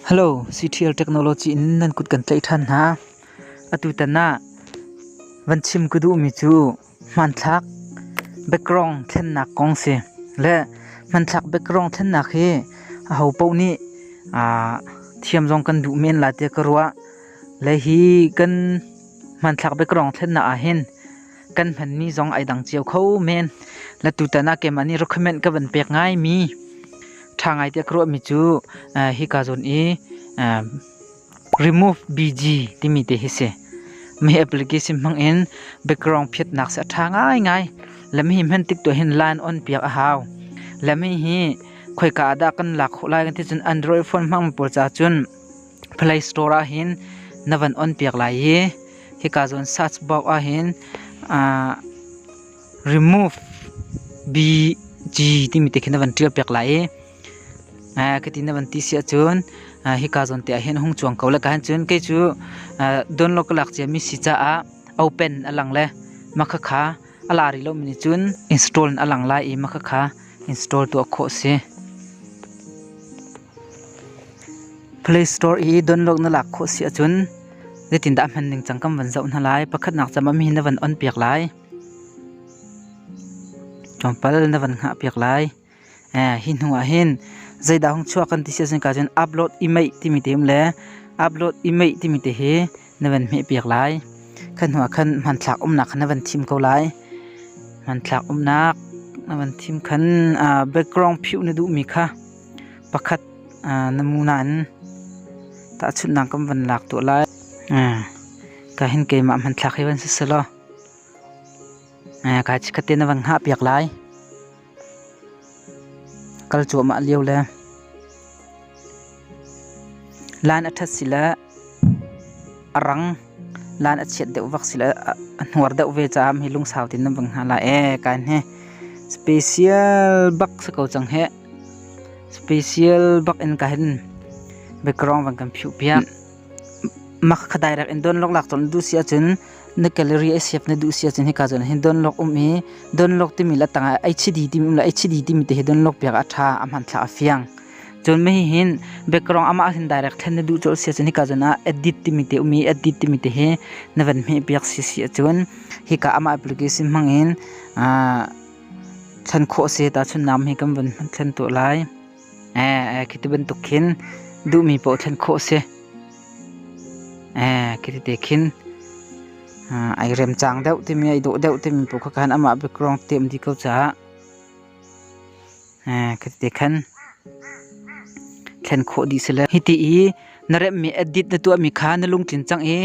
Hello, CTL Technology in nan kut kan tlaih ṭhan hna. Atutan ah van chim ka duhmi cu hmanthlak background thlennak kong si. Le hmanthlak background thlennak hi aho paoh nih aa thiam zong kan duh men lai tiah ka ruah. Le hi kan hmanthlak background thlennak ah hin kan hmanmi zong ai dang cio kho men. Latutan ah keimah nih recommend ka van pek ngaimi ṭha ngai tiah ka ruahmi cu uh, hika zon i uh, remove BG timi te hi si. Mei application hmang in background phiatnak se a ṭha ngai ngai. Lami hi hman tik tu hin line on piak a hau. Lami hi khoika ah dah kan lak khawh lai kan ti cun Android phone hmang pawl ca cun Play Store ah hin na van on piak lai i hika zawn search box ah hin uh, remove BG timi te khin na van tial piak lai i uh, kati na van ti si ahcun uh, hika zawn te ah hin hung chuang ko le ka han cun kei cu uh, download ka lak cia mi si caah open alang le makha kha ala ri lo mi nih cun install in alang lai i makha kha install tu a khawh si Play Store i download na lak khawh si ahcun zeitindah a hman ningcang kan van zoh hna lai. Pakhatnak cam ah mi na van on piak lai. Tlawmpal na van hngah piak lai. Hi hnu ah hin zeidah hong chuah kan ti si ahcun ka cun upload email timi te um le upload email timi te hi na van hmeh piak lai. Khan hnu ah khan hmanthlak umnak khan na van thim ko lai. Hmanthlak umnak na van thim khan background phiuh na duhmi kha pakhat na mu nain tahchunhnak kan van lak tuah lai kahin keimah hmanthlak hi van si selaw kai chikkhat te na van hngah piak lai kal cuahmah lio le laan a ṭhat si le A rang lan a chiat deuh vak si le a hnuar deuh ve caah mi lungsau tein nan vang hna lai ee kai hne. Special bak si ko cang heh. Special bak in ka hin background van kan phiu piak. Mak ka direct in don lok lak ton du si acun na gallery ai siap na du si acun hika cun hin don lok um i don lok timi la tang ai chidi timi um la ai chidi timi te hi don lok piak a tha a hman thla a fiang. Cun mi hihin background amah hin direct thlen na duh cu a si cun hika zon ah edit timi te um i edit timi te hi na van hmeh piak si si ahcun hika amah application hmangin aa chan khawh a si tahchun nam hi kan van thlen tuah lai. Ee khi ti bantuk khin duhmi paoh thlen khawh a si. Ee khi ti te khin ai rem cang deuh timi ai dawh deuh timi paoh kha khan amah background tiam dih ko caah. Kati khan thlen khawh dih si le hiti i na remhmi edit na tuahmi kha na lungtlin cang i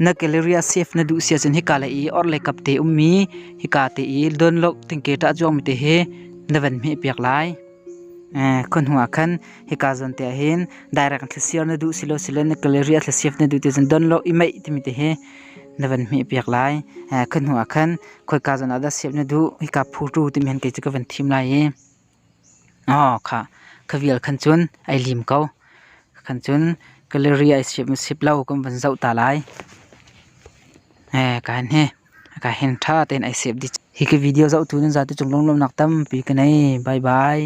na Galleria save na duh si ahcun hika le i orhlei kap te ummi hika te i download tengke ṭah cuangmi te hi na van hmeh piak lai. Khonhu ah khan hika zawn te ahhin direct thlasir na duh si lo sile na Galleria thlasir na duh ti ahcun download i maih timi te hi na van hmeh piak lai. Khonhu ah khan khoika zan ah dah sep na duh hika phu tu timi han kei cu ka van thim lai i oh kha kha vial khan cun ai lim ko khan cun gallery ai sep mu sep lo kan van zoh ta lai eh ka han hi ka hen tha ten ai sep di hi ka video zoh tu nan za tu cung longlom nak tampi ka nei bye bye